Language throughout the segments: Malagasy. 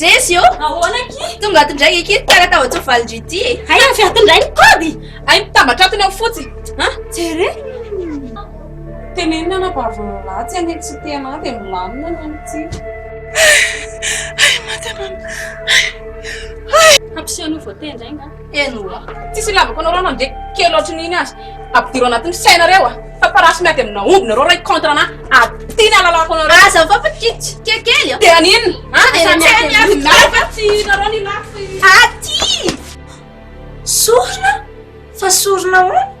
Jezy ô! Ahoana aky? Tonga ato indray aky, tara tahotra valindry ity e! Hay avy ato indray ny kôdy! Hay mitambatra atony ao fotsiny! An! Jereo! Tenenina anabavin'ny lahy tsy hanitsy tsy te hanahy dia milamina ny any ity! Hay! Hay maty anao! Hay! Hay! Hampiseho an'io voatendry hay nga! Eny oa, tsisy ilavako anareo na dia kely ohatrin'iny aza. Ampidiro anatin'ny sainareo a! Fa parasy miady amina omby nareo ray contre ana aty ny alalako anareo. Aza fa pitika kely a! Dia an'inona? An! Dia na miady amina omby nareo fa tsy nareo ny ilako fa aty! Sorona? Fa sorona ahoana?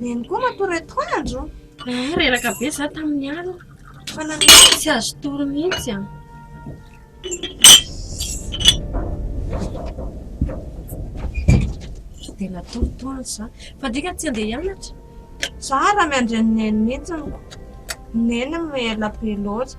Neny koa matory atoandro. Eh, reraka be za tamin'ny alina. Fa nanao tsy azo tory mihitsy an. Dia natory toandro za. Fa dika tsy andeha hianatra. Tsara miandry an'i Neny mihitsy. Neny mihela be loatra.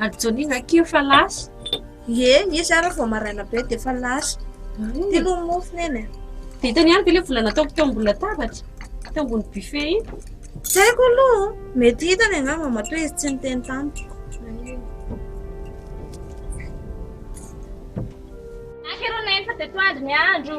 Ady Johnny zah kely fa lasa. Ie, izy ary vao maraina be dia efa lasa. Ty aloha ny mofo neny. Vitany ihany ve le vola nataoko teo ambony latabatra? Teo ambony buffet iny? Tsy haiko aloha, mety hitany angamba matoa izy tsy niteny tamiko. Akero neny fa teto andro ny andro.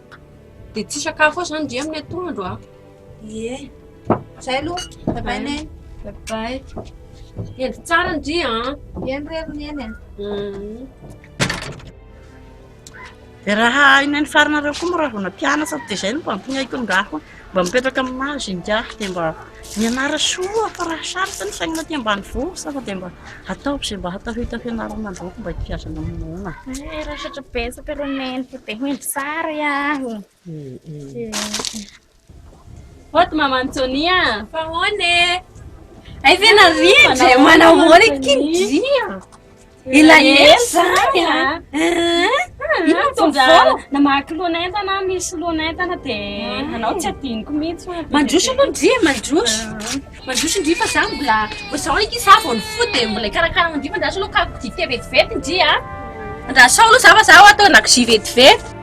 Dia tsy sakafo aho zany ndry amin'ny atoandro an. Ie. Zay aloha. Bye bye neny. Bye bye. Hendry tsara ndry an. Eny re ry neny an. Dia raha eny amin'ny faranareo koa moa raha vao nampianatra dia zay no mba ampinaiko ny rà foana. Mba mipetraka amin'ny mahazo ingahy dia mba mianara soa fa raha sarotra ny fiainana aty ambanivohitra sasa dia mba ataovy izay mba hatao hita fianarana androako mba ity aza mamonoana. Eh, raha satra betsaka ireo neniko dia hendry sary aho. Hot maman Sonia. Fa hoana e? Ay ve narindra? Manao ahoana ity ndry? Ilay ela zany a! Inona no vaovao? Na mahaky lohan'entana aho, misy lohan'entana dia anao tsy adinoko mihitsy hoe. Mandroso aloha ndry e, mandroso. Mandroso ndry fa za mbola, vao izao eky za vao nifoha dia mbola hikarakara an'io fa andraso aloha karoka dite vetivety ndry a! Andraso ao aloha za fa za ao atao an-dakozia vetivety.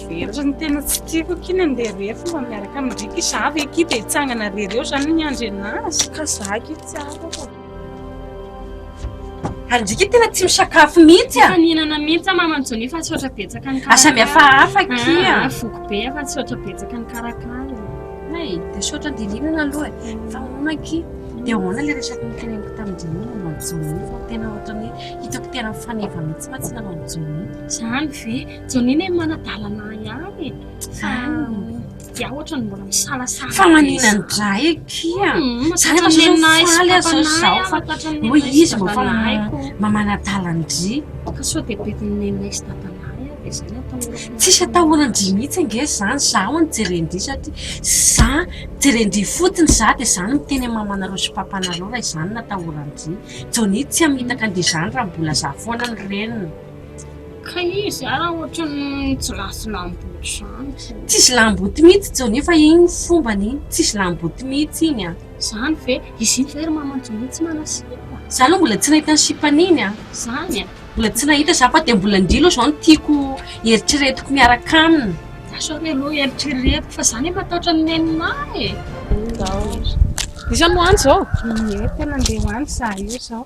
Very ny tena tsy tiako aky ny andeha rery fa mba miaraka amin'ny riky za ve aky dia hitsangana rery eo zany ny andry anazy ka za aky tsy afaka ary ndriky tena tsy misakafo mihitsy a fanenana mihitsy a maman joni fa tsy ohatra betsaka ny karakara asa mihafahafa aky a ah, foko be fa tsy ohatra betsaka ny karakara ay dia sotra dilinana aloha e fa hoana aky dia hoana le resaky ny teneniko tamin-drini maman joni fa tena ohatra ny hitako tena faneva mihitsy fa tsy maman joni zany ve Janine hoe manadalana ihany e. Fa dia ohatra ny mbola misalasala. Fa manina ny dray kia. Hmm, Za rehefa zao faly azy zao zaho fa hoy izy mba fa mba manadalan-dry. Ka sao dia bedin'ny nenay sy dadanahy aho dia izay no atahorako. Tsisy atahoran-dry mihitsy ange izany. Za hono jeren-dry satria za jeren-dry fotsiny za dia za no miteny amin'ny mamanareo sy papanareo raha izany no atahoran-dry. Johnny tsy hamitaka an'izany raha mbola za foana no reniny. Ka izy ara ohatran'ny tsy lasy lamboty zany. Tsisy lamboty mihitsy Johnny fa iny fombany iny, tsisy lamboty mihitsy iny an. Zany ve? Izy iny ve ry maman Johnny tsy manao sipa? Za aloha mbola tsy nahita ny sipan'iny an. Zany an. Mbola tsy nahita za fa dia mbola ndry aloha zao no tiako eritreretiko miaraka aminy. Za zao re aloha eritreretiko fa za ne matahotra ny nenina e. Iza no any zao? Ie, te nandeha ho any za io zao.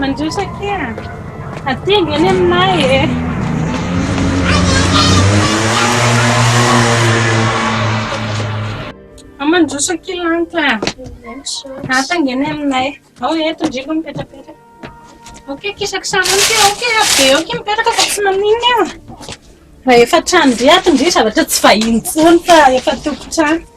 Mandroso akia ah. Hatinga any aminay eh. Mandroso akia lanitra. Hatinga any aminay. Ao eto ndriko mipetrapetra. Ok, kisak sana ok, ok, be ok mipetraka fa tsy maninona eo. Fa efa trano be ato ndry zavatra tsy vahiny tsony fa efa tompon-trano.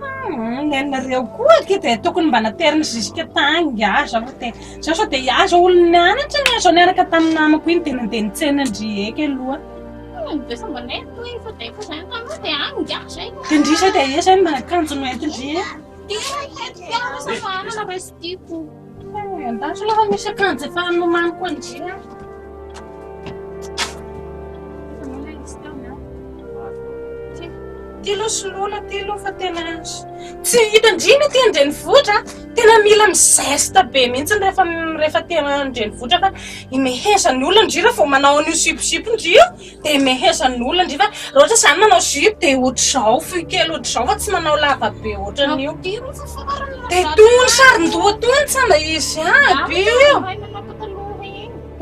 Hum, ny anareo koa ake dia tokony mba nateriny jusque tagny ngiahy zaho fa dia zaho sao dia aza olona nianatra ny ahy zao niaraka tamin'ny namako iny dia nandeha nitsena ndry eky aloha Dia sa mba nety hoe efa dia efa izay taminao dia any ngiahy izay no dia ndry zay dia esa mba akanjo noentin-dry e Dia hety fiara sa manana raha tsy tiako An-danitra aloha fa misy akanjo efa nomaniko an-dry an. Iza moa ilay izy teo an? Ty. Ty aloha soloina ty aloha fa tena tsy hitan-dry ny aty an-drenivohitra. Tena mila mi-zeste be mihitsy rehefa rehefa aty an-drenivohitra fa imehezan'ny olona an-dry raha vao manao an'io siposipo ndry io. Dia mehezan'ny olona ndry fa raha ohatra izany manao jupe dia ohatr'izao, fohy kely ohatr'izao fa tsy manao lava be ohatran'io. Dia toy ny saron-doha toy ny tsamba izy aby io.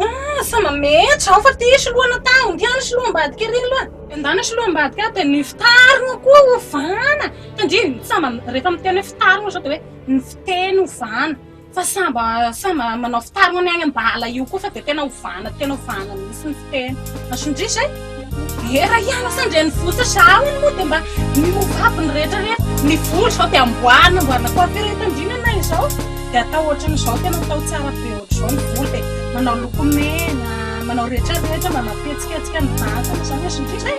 Ah, samba mety izao fa tia sy lohana taho, tia ny sy loham-badika ery aloha. Endana sy loham-badika aho dia ny fitarina koa hovana. Tandremo, samba rehefa miteny hoe fitarina izao dia hoe ny fiteny hovana. Fa samba samba manao fitaro any any ambala io koa fa dia tena ovana tena ovana mihitsy ny fiteny. Masondriso e! Hera ihany asa an-drenivohitra sa ahoana moa dia mba miova aby ny rehetra rehetra. Ny volo izao dia amboarina amboarina coiffure eto andriana ianay izao dia atao ohatran'izao tena atao tsara be ohatr'izao ny volo dia manao lokomena manao rehetra rehetra mba mampihetsiketsika ny vantana izany masondriso e!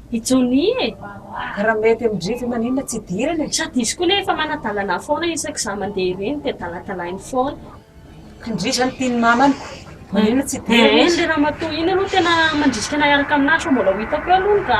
I Johnny e! Raha mety amin-dry ve maninona tsy idirana e? Sady izy koa anie efa manadalana foana isaky izaho mandeha ireny dia daladalainy foana. Kindry izany tian'ny mamany ko maninona tsy idirana izy? Eny le ramatoa iny aloha tena mandrisika anay hiaraka aminà sao mbola ho hitako eo aloha ny rà.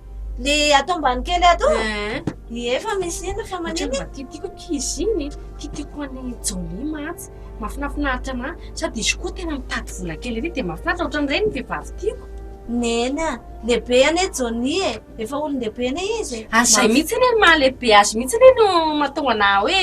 Le ato ambany kely ato? Ny efa misy iny fa maniny? Mba tiatiko ankizy iny, tiatiko any Jolie mantsy. Mafinafinaritra ma, sady izy koa tena mitady vola kely ery dia mahafinaritra, ohatran'ireny ny vehivavy tiako. Neny a, lehibe anie Jolie e, efa olon-dehibe anie izy e. Ary izay mihitsy anie no maha lehibe azy mihitsy anie no mahatonga anà hoe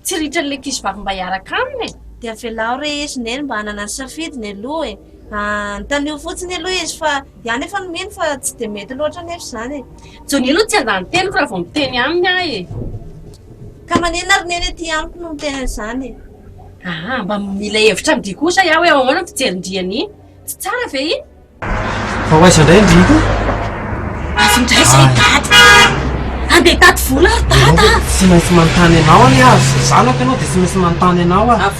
tsy ritra an'ilay ankizivavy mba hiaraka aminy e. Dia avelao re izy neny mba hanana ny safidiny aloha e, anontanio fotsiny aloha izy fa Iany efa nomeny fa tsy dia mety loatra anefa izany e. Johnny aloha tsy andan'ny teniko raha vao miteny aminy aho e. Ka maninona ary neny aty amiko no miteny an'izany e. Aa mba mila hevitra an-dry kosa iah hoe ahoana ny fijerin'dry an'iny? Tsy tsara ve iny? Fa ho aiza indray ndry iny? Avy indray izay dada a! Andeha hitady vola ary dada a! Tsy maintsy manontany anao anie aho, zanako ianao dia tsy maintsy manontany anao aho.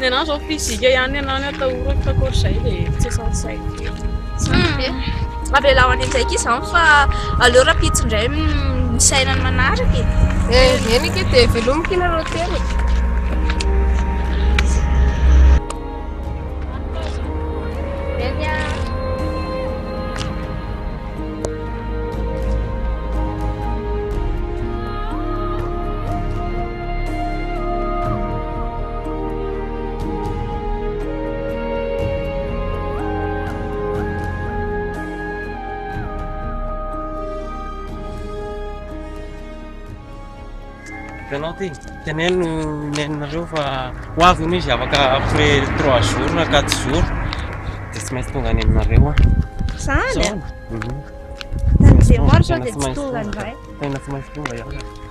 Ny anah zao physique ihany ny anah no atahorako fa akory izay dia tsy saintsaiko kely. Avela ho any an-tsaiko izany fa aleo rahampitso indray misaina ny manaraka e. Eh, eny ake dia velomiko ianareo telo. Ianao ty, teneno nenareo fa ho avy hono izy afaka après trois jours na quatre jours dia tsy maintsy tonga any aminareo aho. Zany a? Tamin'izay maro sao dia tsy tonga indray. Tena tsy maintsy tonga aho.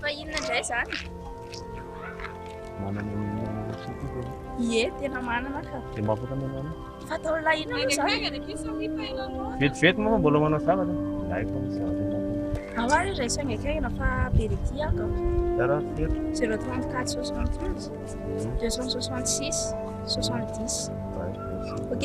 Fa inona indray izany? Manana ny Ie, tena manana ka. Dia mba afaka manana. Fatao lahy inona moa izany? Vetivety moa fa mbola manao zavatra. Lahy fa misy zavatra ianao. Ao ary iray saingaikaina fa be dia tia aho kao. Zara fito. 034 71 266 70. Ok?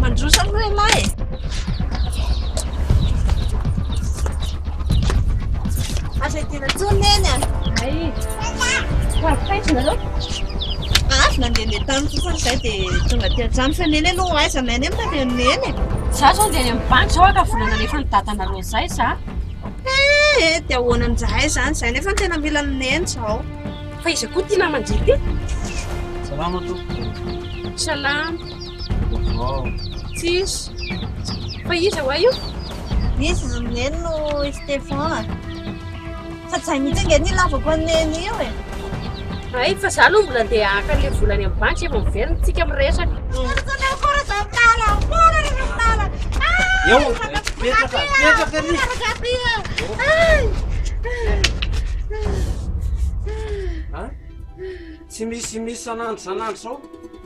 Mandroso aloha ialahy e! Aza hidiana intsony neny a! Ay, ho avy taiza ianareo? Avy nandehandeha tany fotsiny izay dia tonga aty an-trano fa neny aloha aiza neny moa dia neny e! Izaho izao handeha any amin'ny banky izao haka vola nalefa ny dadanareo izay za. Eh eh, dia ahoana amin'izahay izany izay nefa no tena mila an'i neny izao. Fa iza koa ity naman-dry ity? Salama tompoko. Salama. Tsisy. Fa iza hoa io? Izy ry neny no i Stéphane. Fa tsy hay mihitsy ange ny ilavako an'i neny io e. Hay, fa za aloha mbola ndeha haka an'ilay vola any amin'ny banky vao miverina antsika miresaka. Eo, petraka, petraka ry. Tsy misy misy sanandro sanandro zao.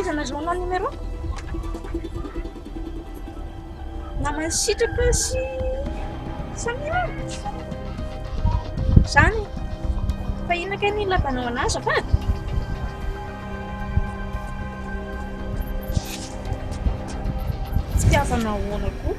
Fahaizana journal numéro Namany sitraka sy Samia Zany Fa inona kay ny lavanao anazy azafady Fitiavana ahoana koa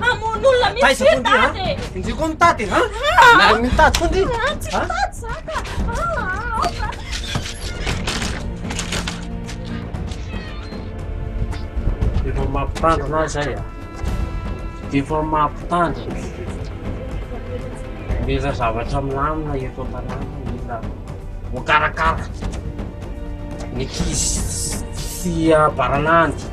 Hamono olona mihitsy ry Dada e! Ndry koa mitady ha? Na mitady koa ndry! Tsy mitady za ka! Aoka! Efa mampitandrina ahy zay a! Efa mampitandrina! Mila zavatra milamina eto an-tanàna, mila voakarakara ny ankizy sy abaranahiny.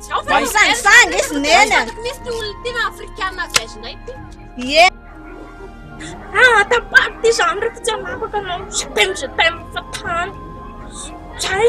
Zany zany zany izy nena. Misy ty olona tena afrikana avy azinay ty. Ye. Ah, tapar ty zany refa tsy anapaka anao. Je t'aime, je t'aime fa tany. Zay.